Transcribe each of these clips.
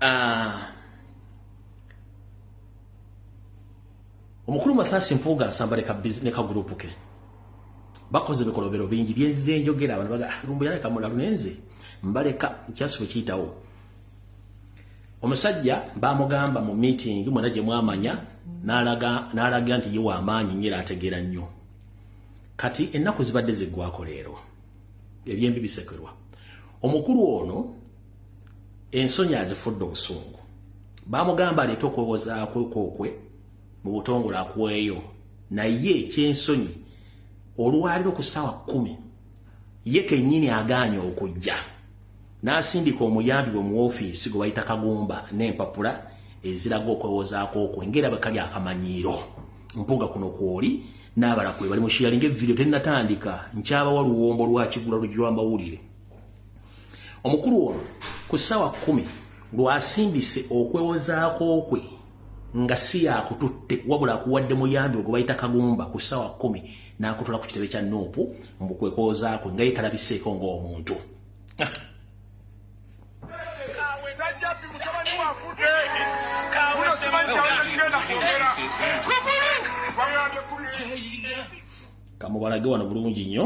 Ah. omukulu mathasi mpuuga asamba ne kagurupu ke bakoze bikolobero bingi byenzize njogera abantu baga ah, lumbu yaleka mulalu nenze mbaleka kyasu bwe kiyitawo omusajja bamugamba mu meeting mwena gye mwamanya n'alaga nti ye wamaanyi nyo era ategeera nnyo kati ennaku zibadde ziggwako leero ebyembi bisekerwa omukulu ono ensonyi azifudde obusungu bamugamba aleeta okwewozaakwekwokwe mu butongole akuweeyo naye ekyensonyi olwaliro ku ssaawa kumi ye kennyini agaanye okujja n'asindika omuyambi bwe mu ofiisi gwe bayita kagumba n'empapula eziraga okwewozaako okwe ngaera bwe kali akamanyiiro mpuuga kuno kwoli n'abala kwe bali mushiyalinga evidiyo tennatandika nkyabawa luwombo lwakigula lujwa amawulire omukulu ono ku ssaawa kumi lwasindise okwewozaako kwe nga si yakututte wabula akuwadde muyambi ogwe bayita kagumba ku ssaawa kumi n'akutula ku kitebe kya nuupu mbu kwekwozaakwe nga yetalabiseeko ng'omuntu ah. kamubalage wano bulungi nnyo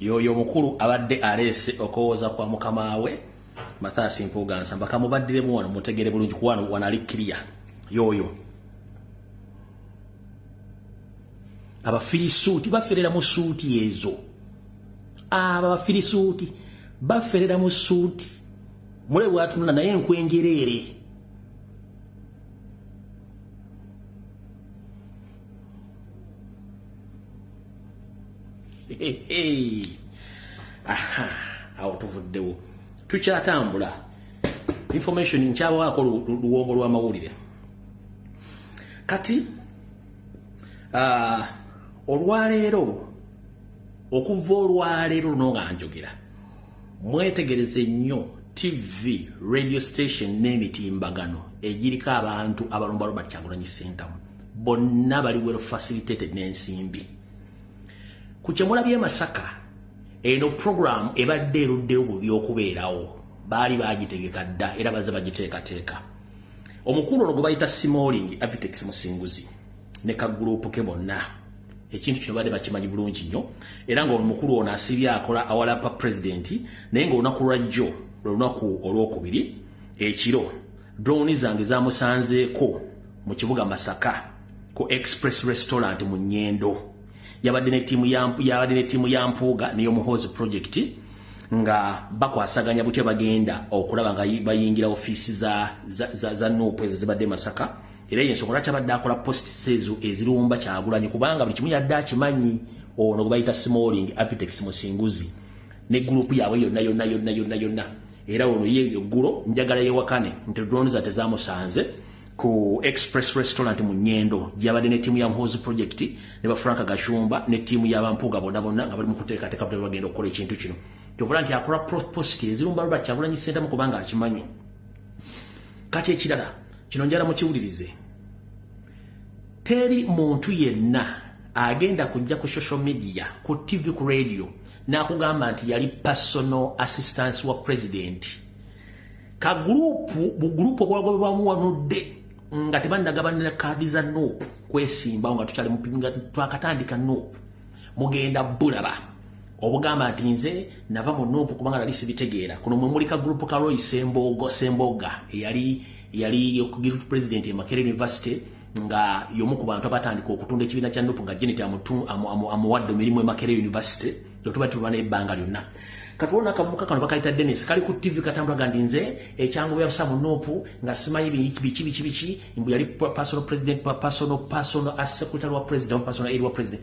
yoyo mukulu abadde aleese okowooza kwa mukama we mathaasi mpuuga nsamba kamubaddiremu wano mutegere bulungi kuwano wanali kiriya yoyo abafirisuuti baferera mu suuti ezo abo abafirisuuti baferera mu suuti mule bwatunula naye enkwenjereere aha awo tuvuddewo tukyatambula information nkyabaako luwombo lw'amawulire kati uh, olwaleero okuva olwaleero luno nga njogera mwetegereze nnyo tv radio station n'emitimbagano egiriko abantu abalumba robert kyagulanyi sentamu bonna bali well facilitated n'ensimbi ku kyemulabye masaka eno program ebadde eruddewo bubi okubeerawo baali bagitegeka dda era baze bagiteekateeka omukulu ono gwe bayita simoling apitex musinguzi ne kaguluupu ke bonna ekintu kino baadde bakimanyi bulungi nnyo era nga omukulu ono asibye akola awalapa pulezidenti naye ngaolunaku lwa jjo lwe lunaku olwokubiri ekiro drowni zange zamusanzeeko mu kibuga masaka ku express restaurant mu nyendo yabadde ne ttiimu ya mpuuga neyomuhoozi project nga bakwasaganya butya bagenda okulaba nga bayingira ofiisi za, za, za, za nupu ezo zibadde masaka era yensonga lwaki abadde akola post sezo ezirumba kyagulanyi kubanga buli kimu yadde akimanyi ono gwebayita smalling apitex musinguzi ne gurupu yaabwe yonna yonna yonna yonna yonna era ono ye eggulo njagala yewakane nti drones ate zamusanze ku express restaurant mu nyendo gyabadde ne tiimu ya mhozi project ne ba franka gashumba ne tiimu ya bampuuga bonna bonna nga bali mu kuteekateeka butali bagenda okukola ekintu kino kyovula nti akola post ezirumba lwaki agulanyi sentamu kubanga akimanyi kati ekirala kino njala mukiwulirize teri muntu yenna agenda kujja ku social media ku tv ku radio nakugamba nti yali personal assistance wa president ka gurupu bugurupu obwagobebwamu wanudde nga tebannagabanira kaadi za nop kwesimbawo nga tukyali mupinga twakatandika nop mugenda bulaba obugamba nti nze nava mu nuupu kubanga nali sibitegeera kuno mwe muli ka gurupu ka roy semboogo sembooga eyali yali gurupu pulezidenti e makere university nga yomu ku bantu abatandika okutunda ekibiina kya nuupu nga jeneti amuwadde emirimu e makere university kyotuba tulwa naye ebbanga lyonna katuona akavubuka kano bakayita denis kali ku tv katambula gandi nze ekyangu byabusa mu nuupu nga simanyi biki biki biki mbu yali personal president personal personal as secretary wa president personal eri wa president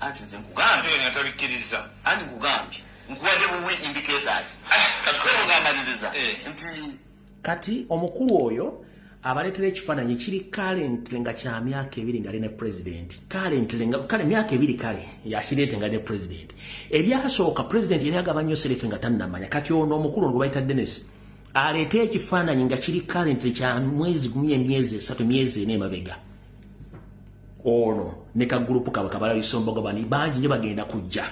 Anti nze nkugambye. Oyo nga tabikkiriza. Anti nkugambye. Nkuwadde buwi indicators. Ah, Sebo nga amaliriza. Eh. Nti. Kati omukulu oyo abaletera ekifaananyi kiri kalentire nga kya myaka ebiri nga ali ne pulezidenti kalentire nga kale myaka ebiri kale yakireete nga ne pulezidenti ebyasooka pulezidenti yali agaba nnyo serefe nga tannamanya kati ono omukulu ngu bayita denesi aleeta ekifaananyi nga kiri kalentire kya mwezi gumye emyezi esatu myezi ena emabega ono ne kagulupu kabwe kabalayisombogo bani bangi nyo bagenda kujja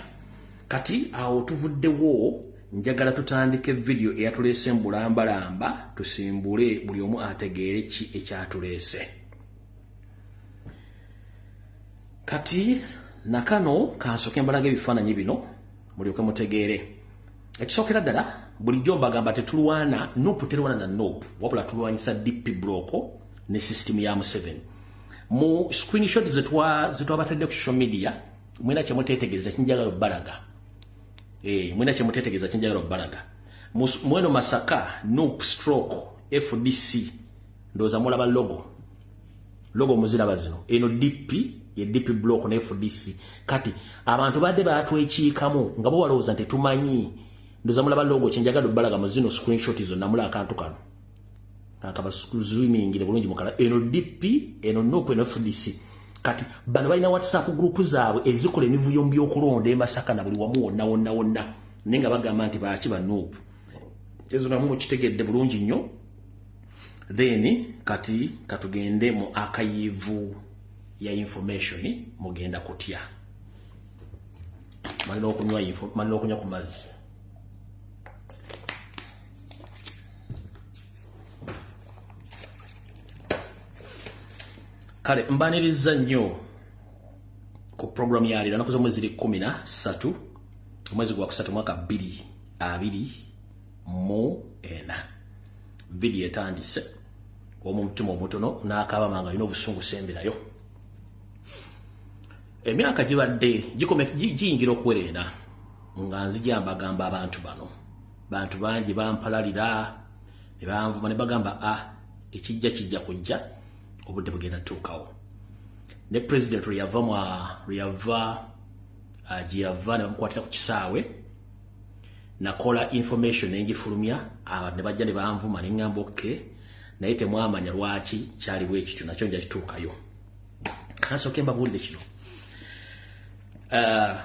kati awo tuvuddewo njagala tutandike vidiyo eyatuleese mbulambalamba tusimbule buli omu ategeere ki ekyatuleese kati nakano kansoke mbalaga ebifaananyi bino mulyoke mutegeere ekisookera ddala bulijjo mbagamba tetulwana nup terwana na nup wabula tulwanyisa dp broko ne system ya museven mu screenshot zetwabatadde ku social media mwena kyemutetegereza kinjagala obalaga eh, mwena kyemutetegereza kinjagala obalaga mweno masaka nup stroke fdc ndoza mulaba logo lobo muziraba zino eno dp ye dp block ne fdc kati abantu badde batwekiikamu nga bo balowooza nti tumanyi ndoza mulaba logo kyenjagala obalaga mu zino screenshot izo namula akantu kano akabasuzwimingire bulungi mukala eno dp eno noku eno fdc kati bano balina whatsapp group zaabwe ezikola emivuyo mu byokulonda emasaka na buli wamu wonna wonna wonna naye nga bagamba nti baaki banuupu ezo namu mukitegedde bulungi nnyo then kati katugende mu akayivu ya information mugenda kutya malina okunywa info malina okunywa ku mazzi kale mbaniriza nnyo ku programu ya leero nakuza omwezi ziri kumi na ssatu omwezi gwa kusatu mwaka bbiri abiri mu ena vidiyo etandise omutima omutono nakabama nga alina obusungu semberayo emyaka gibadde giyingira okuwereera nga nzija mbagamba abantu bano bantu bangi bampalalira ne banvuma ne bagamba a ah, ekijja kijja kujja obudde bugenda tuukawo ne president lweyava lweyava ah, gyeyava ne bamukwatira ku kisaawe nakola information nenjifulumya abantu ne bajja ne banvuma ne ngamba okay naye temwamanya lwaki kyali bwekityo nakyo nja kituukayo kanasooke mbabuulire kino uh,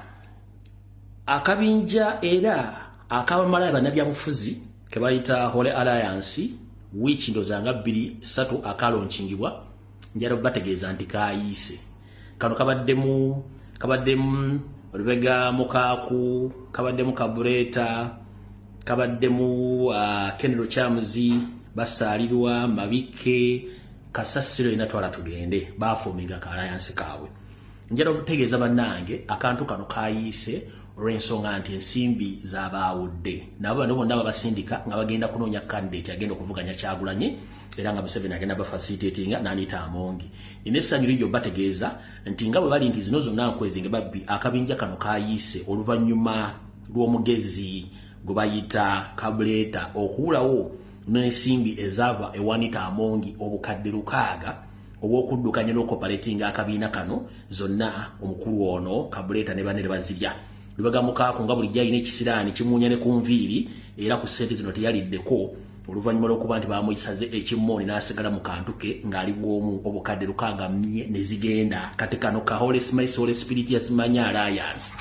akabinja era akabamalayo bannabyabufuzi kebayita hole alliance wiiki ndozanga bbiri satu akalonkingibwa njala bategeeza nti kayiise kano kabaddemu kabaddemu olubega mukaaku kabaddemu kabureeta kabaddemu uh, ah, kenero kyamuzi basaalirwa mabikke kasasiro ina twala tugende baafumiga ka alliance kaabwe njala okutegeeza bannange akantu kano kayiise olw'ensonga nti ensimbi zabaawudde nabo bano bonna babasindika nga bagenda kunoonya kandidate agenda okuvuganya kyagulanye era nga museveni agenda bafasitatinga naniita amongi nina essanyu ligyo bategeeza nti nga bwe bali nti zino zonna nkwezinge babbi akabinja kano kayiise oluvannyuma lw'omugezi gwe bayita kabuleeta okuwulawo n'ensimbi ezaava ewanita amongi obukadde lukaaga obw'okuddukanya n'okopaletinga akabiina kano zonna omukulu ono kabuleeta ne banne ne bazirya lubega mukaako nga bulijjo alina ekisiraani kimuunya ne ku nviiri era ku ssente zino teyaliddeko oluvannyuma lw'okuba nti baamuyisaze ekimmooni n'asigala mu kantu ke ng'ali bw'omu obukadde lukaaga mye ne zigenda kati kano ka holy smice holy spirit yasimanya alliance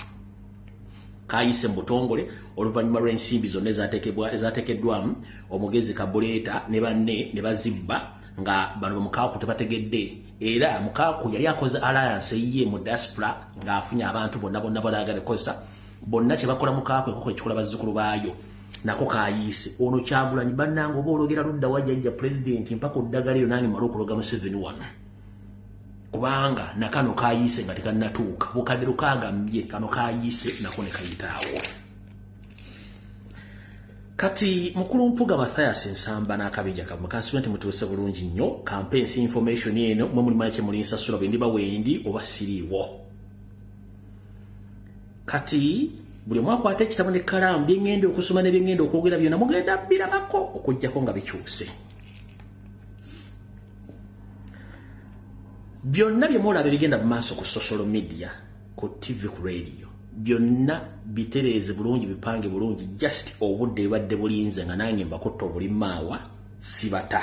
kayise mu butongole oluvannyuma lw'ensimbi zonna ezatekeddwamu omugezi kabuleeta ne banne ne bazibba nga bano bamukaaku tebategedde era mukaaku yali akoze alliance eyiye mu diaspora ng'afunye abantu bonna bonna balaagala ekozesa bonna kye bakola mukaaku ekoko ekikola bazzukulu baayo nako kayiise ono kyagulanyi bannanga oba ologera ludda wajajja pulezidenti mpaka oddagala eyo nange mala okuloga museveni wano kubanga nakano kayiise nga tekannatuuka bukadde lukagambye kano kayiise nako ne kayitaawo Kati mukulu mpuga Matthias Nsamba n'akabija kamwe kansibe nti mutuuse bulungi nnyo kampe ensi information eno mwe muli manyi kyemuli nsasula bwe ndiba wendi oba siriiwo kati buli omu akwata ekitabo ne kalaamu bye ŋŋenda okusoma ne bye ŋŋenda okwogera byonna mugenda birabako okuggyako nga bikyuse byonna bye mulaba ebigenda mu maaso ku social media ku tv ku radio byonna bitereeze bulungi bipange bulungi just obudde ebadde bulinze nga nange mbakutta obulimaawa sibata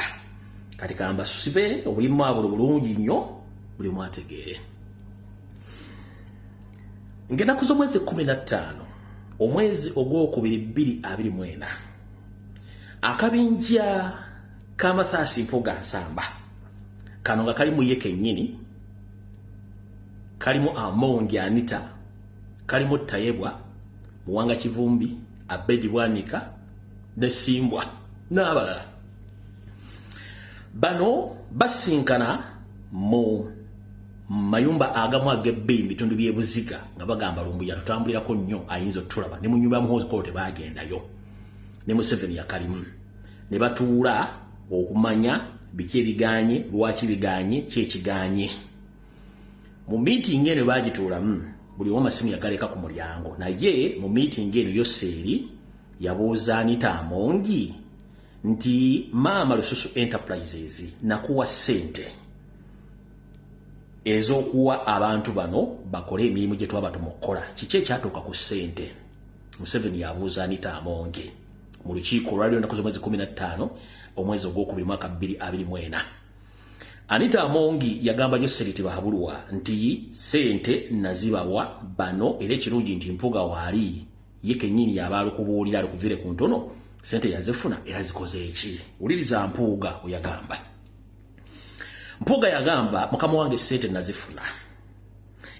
kati kamba sibe obulimaawa bulo bulungi nnyo buli mwategeere ngenaku z'omwezi 15 omwezi ogwokubiri 224 akabinja ka mathaasi mpuga nsamba kano nga kali muye kennyini kalimu amongi anita kalimu tayebwa muwanga kivumbi abedi bwanika ne simbwa n'abalala bano basinkana mu mayumba agamu agebbe ebitundu by'ebuziga nga bagamba lumbu yatutambulirako nnyo ayinza otulaba ne mu nyumba ya muhoozi kolo tebagendayo ne museveni yakalimu ne batuula okumanya biki ebiganye lwaki biganye kyekiganye mu meeting eno bagituulamu buli omu amasimu yagaleka ku mulyango naye mu meeting eno yoseeri yabuuza anita amongi nti maama lususu enterprises nakuwa sente ez'okuwa abantu bano bakole emirimu gye twabatuma okukola kiki ekyatuuka ku sente museveni yabuuza anita amongi mu lukiiko olwaliwo ennaku z'omwezi kumi na ttaano omwezi ogwokubiri mwaka bbiri abiri mu ena anita amongi yagamba nyo seriti bahabulwa nti sente nazibawa bano era ekirungi nti mpuga waali ye kenyini yaba alikubuulira alikuvire ku ntono sente yazifuna era zikoze eki wuliriza mpuuga oyagamba mpuuga yagamba mukama wange sente nazifuna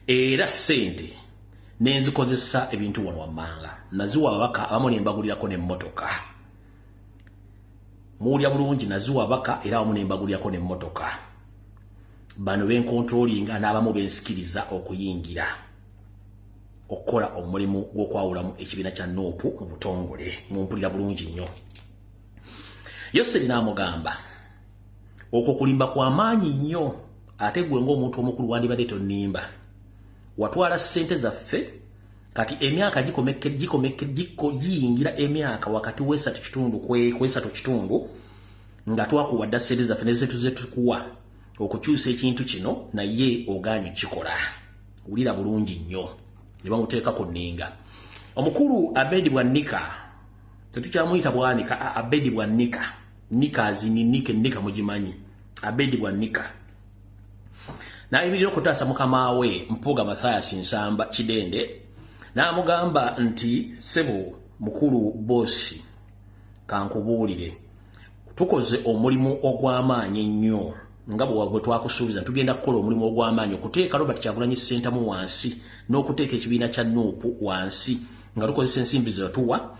era sente nenzikozesa ebintu wano wammanga naziwa ababaka abamu nembagulirako nemmotoka muwulira bulungi naziwa ababaka era abamu nembagulirako nemmotoka bano benkontrolinga n'abamu bensikiriza okuyingira okukola omulimu gw'okwawulamu ekibiina kya nuupu mu butongole mumpulira bulungi nnyo yoseri n'amugamba okwo kulimba kwa maanyi nnyo ate gwe ng'omuntu omukulu wandibadde tonnimba watwala ssente zaffe kati emyaka giyingira emyaka wakati wesatu kitundu kwesatu kitundu nga twakuwa dda ssente zaffe nezetu zetukuwa okukyusa ekintu kino naye ogaanyi kikola wulira bulungi nnyo ne bamuteeka ku nninga omukulu abedi bwannika tetukyamuyita bwanika abedi bwannika nika azini nike nika mujimanyi abedi bwa nika nayibirira okutaasa mukama we mpuuga mathayas nsamba kidende n'amugamba nti sebo mukulu bosi kankubuulire tukoze omulimu ogw'amaanyi ennyo nga bwe twakusuubiza tugenda kukola omulimu ogw'amaanyi okuteeka robert kyagulanyi ssentamu wansi n'okuteeka ekibiina kya nuupu wansi nga tukozesa ensimbi zetuwa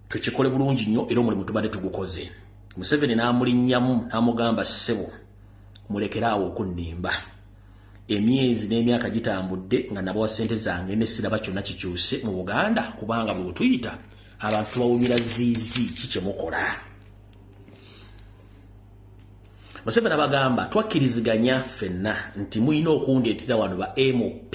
tukikole bulungi nnyo era omulimu tubadde tugukoze museveni n'amulinnyamu n'amugamba ssebo mulekere awo okunnimba emyezi n'emyaka gitambudde nga nabawa ssente zange ne siraba kyonna kikyuse mu buganda kubanga bwe butuyita abantu tubawumira ziizi ki kye mukola museveni abagamba twakkiriziganya ffenna nti mulina okundeetera wano ba mop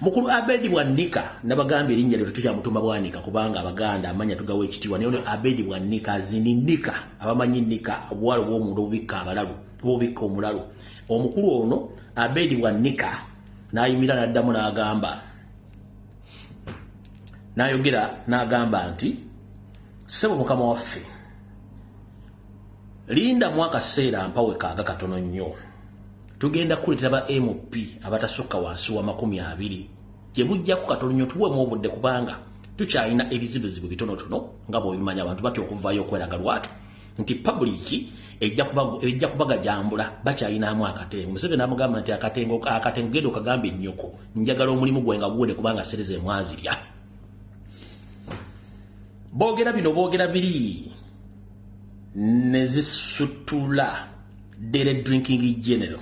mukulu abedi bwanika nabagambye erinnya lyo tetukyamutuma bwanika kubanga abaganda amanya tugawa ekitiibwa naye ono abedi bwanika zini nika abamanyi nika obuwala obwomunda obubikka abalalu obubikka omulalu omukulu ono abedi bwanika nayimira naddamu nagamba nayogera nagamba nti sebo mukama waffe linda mu akaseera mpawe kaaga katono nnyo tugenda kukuletera ba mp abatasukka wansi wa makumi abiri gye bujjaku katolunyo tuwemu obudde kubanga tukyalina ebizibuzibu bitonotono nga bwebimanya abantu batya okuvaayo okweraga lwatu nti pabuliki ejja kubagajambula bakyalinamu akatengo museveni amugamba nti akatengo akatengo genda okagamba ennyoko njagala omulimu gwe nga guwede kubanga sereza emwazirya boogera bino boogera biri ne zisutula dere drinking general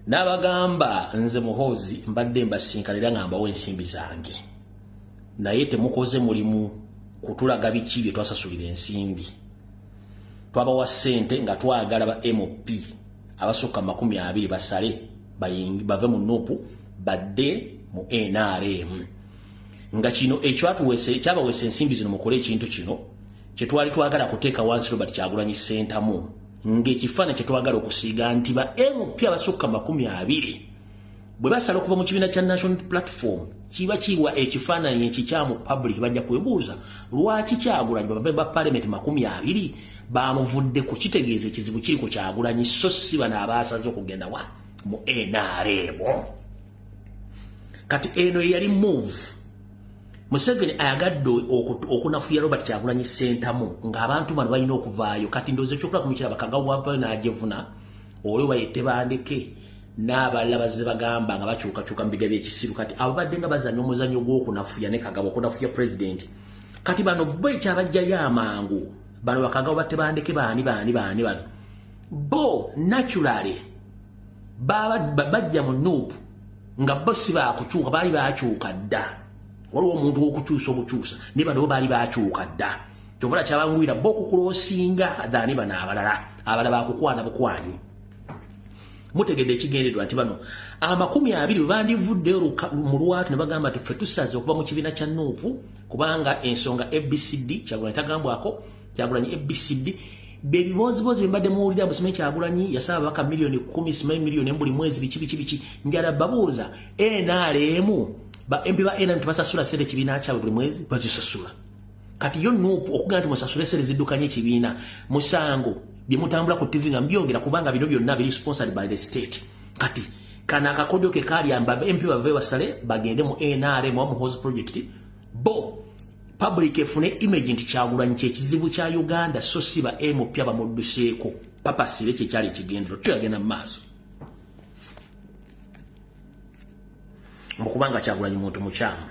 n'abagamba nze muhoozi mbadde mbasinkanira nga mbawo ensimbi zange naye temukoze mulimu kutulaga biki bye twasasulira ensimbi twabawa ssente nga twagala ba mop abasukka makumi abiri basale bave mu nupu badde mu nrm nga kino ekyatuwese kyabawesa ensimbi zino mukole ekintu kino kyetwali twagala kuteeka wansi Robert Kyagulanyi Ssentamu ng'ekifaananyi kyetwagala okusiiga nti ba LP abasukka makumi abiri bwe basala okuva mu kibiina kya National Platform kiba kiwa ekifaananyi ekikyamu public bajja kwebuuza lwaki Kyagulanyi babambe ba parliament makumi abiri bamuvudde ku kitegeeza ekizibu kiri ku Kyagulanyi so si bano abaasaze okugenda wa mu NRM. kati eno yali move museveni ayagadde okunafuya robert kyagulanyi sentamu ngaabantu bano balina okuvaayo kati ndoozi ekyokola kumukiraba kagawavayo najevuna oli wayette bandeke n'abalala bazze bagamba nga bakyukakyuka mu biga by'ekisiru kati abo badde nga bazanya omuzanyo gw'okunafuya ne kagabo okunafuya pulezidenti kati bano bo ekyabajjayo amangu bano bakagabo batte bandeke baani baani baani bano bo naturally bajja mu nup nga bo si bakukyuka baali bakyuka dda waliwo omuntu wokukyusa okukyusa naye bano bo baali bakyuka dda kyovula kyabanguyira bo okukulosinga dhani bano abalala abala bakukwana bukwanyi mutegedde ekigendererwa nti bano amakumi abiri bwe bandivudde mu lwatu ne bagamba nti ffe tusaze okuva mu kibiina kya nuupu kubanga ensonga abcd kyagula etagambwako kyagulanyi abcd bebibooziboozi bembadde muwulira mbu simanyi kyagulanyi yasaba ababaka miliyoni kumi simanyi miliyoni embuli mwezi biki biki biki njala babuuza nrm ba mp ba nrm tebasasula sente kibiina kyabwe buli mwezi bazisasula kati yo nup okugana nti musasule sente ziddukanye ekibiina musango byemutambula ku tv nga mbyongera kubanga bino byonna biri sponsored by the state kati kana akakodyo ke kalyamba mp bave basale bagende mu nrm wa muhozi project bo public efune image nti kyagulanyi kyekizibu kya uganda so si ba mp abamudduseeko papa sire kyekyali ekigendero tuyagenda mu maaso mukubanga kyagulanyi muntu mukyamu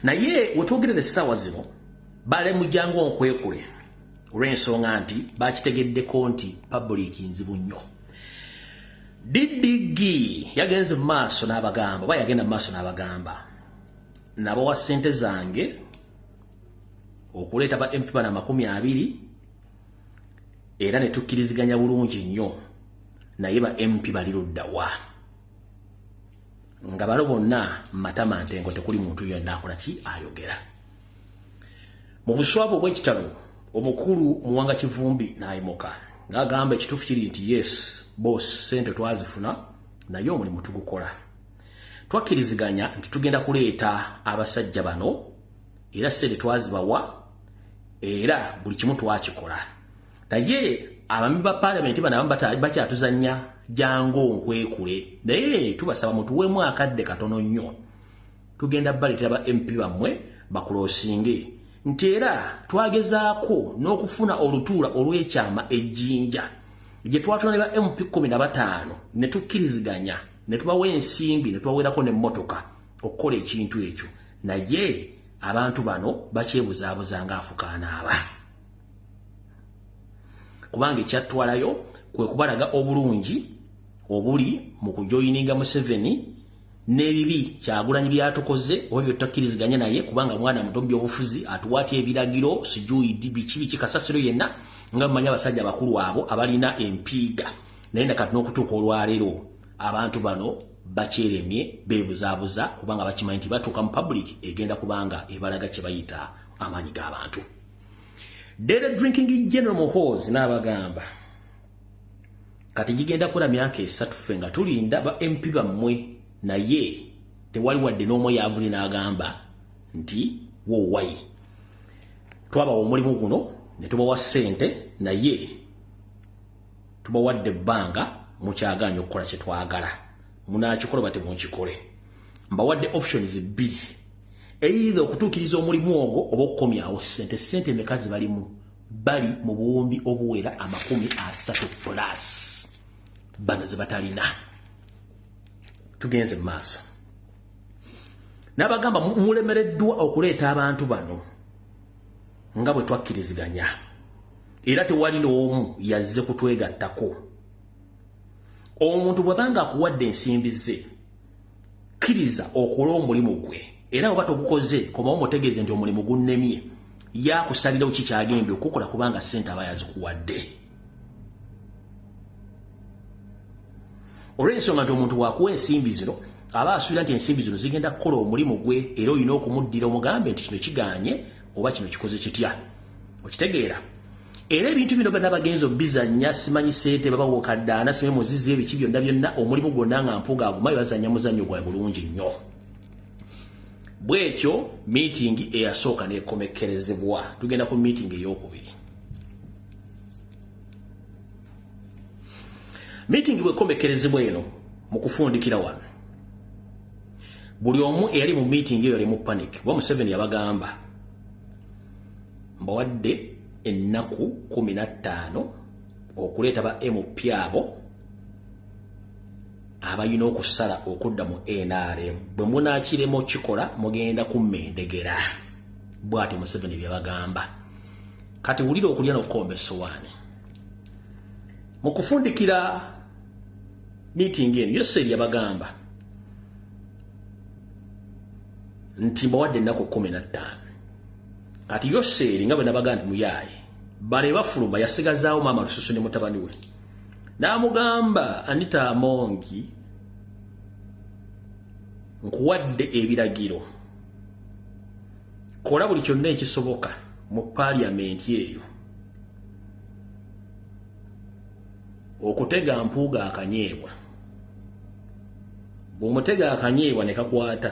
naye wetwogerera essaawa zino bale mujangu onkwekule olw'ensonga nti bakitegeddeko nti public nzibu nnyo ddigi yagenze mu maaso n'abagamba oba yagenda mu maaso n'abagamba nabawa sente zange okuleeta ba mp bana makumi abiri era ne tukkiriziganya bulungi nnyo naye ba mp bali luddawa nga balo bonna matama ntengo tekuli muntu yonna akola ki ayogera mu buswavu obw'ekitalo omukulu muwanga kivumbi n'ayimuka ng'agamba ekituufu kiri nti yes boss sente twazifuna naye omulimu tugukola twakkiriziganya nti tugenda kuleeta abasajja bano era sente twazibawa era buli kimu twakikola naye abami ba palamenti bano abamu bakyatuzanya jangu onkwekule naye tubasaba mutuweemu akadde katono nnyo tugenda baleetera ba mp bammwe bakulosinge nti era twagezaako n'okufuna olutuula olw'ekyama ejjinja gye twatula ne ba mp kumi na bataano ne tukkiriziganya ne tubawa ensimbi ne tubaweerako n'emmotoka okukola ekintu ekyo naye abantu bano bakyebuzaabuza ng'afukaana aba kubanga ekyattwalayo kwe kubalaga obulungi obuli mu kujoyininga museveni n'ebibi kyagulanyi byatukoze oba bye tutakkiriziganya naye kubanga mwana muto mu byobufuzi atuwaatya ebiragiro sijuidi biki biki kasasiro yenna nga mumanyi abasajja abakulu abo abalina empiiga naye nakati n'okutuuka olwaleero abantu bano bakyeremye beebuzaabuza kubanga bakimanyi nti batuuka mu public egenda kubanga ebalaga kye bayita amaanyi g'abantu dere drinking general mohos n'abagamba kati gigenda kula myaka esatu ffe nga tulinda ba mp bammwe naye tewali wadde n'omu yaavuli n'agamba nti wowayi twabawa omulimu guno ne tubawa ssente naye tubawadde ebbanga mukyagaanya okukola kye twagala munaakikola bate mukikole mbawadde options bbiri eyinza okutuukiriza omulimu ogwo oba okukomyawo ssente ssente emeka ze balimu bali mu buwumbi obuwera amakumi asatu plus bano ze batalina tugenze mu maaso n'abagamba mulemereddwa okuleeta abantu bano nga bwe twakkiriziganya era tewali n'omu yazze kutwegattako omuntu bwebanga akuwadde ensimbi ze kkiriza okole omulimu gwe era oba togukoze komawo mutegeeze nti omulimu gunnemye yakusalirawo kikyagenda okukola kubanga ssente aba yazikuwadde olw'ensonga nti omuntu wakuwa ensimbi zino aba asuubira nti ensimbi zino zigenda kukola omulimu gwe era olina okumuddira omugambe nti kino kiganye oba kino kikoze kitya okitegeera era ebintu bino bana bagenzi obizanya simanyi sente baba wokaddaana simanyi muzizi ebiki byonna byonna omulimu gwonna nga mpuga agumayo bazanya muzanyo gwa bulungi nnyo bwetyo miitingi eyasooka nekomekkerezebwa tugenda ku miitingi eyokubiri miitingi bwekomekkerezebwa eno mu kufundikira wano buli omu eyali mu miitingi eyo ali mu panic wa museveni yabagamba mbawadde ennaku kumi na ttaano okuleeta ba mp abo abalina okusala okudda mu nrm bwe munaakiremu okikola mugenda kumma endegera bwatyo museveni bye bagamba kati wulira okulya n'okukomba essowaani mu kufundikira miitingi eno yoseeri yabagamba nti mbawadde ennaku kumi na ttaano kati yoseeri nga bwe nabaga nti muyaaye bale bafuluma yasigazaawo maama lususu ne mutabani we n'amugamba anita amongi nkuwadde ebiragiro kola buli kyonna ekisoboka mu paaliyamenti eyo okutega mpuuga akanyeebwa bw'omutega akanyeebwa ne kakwata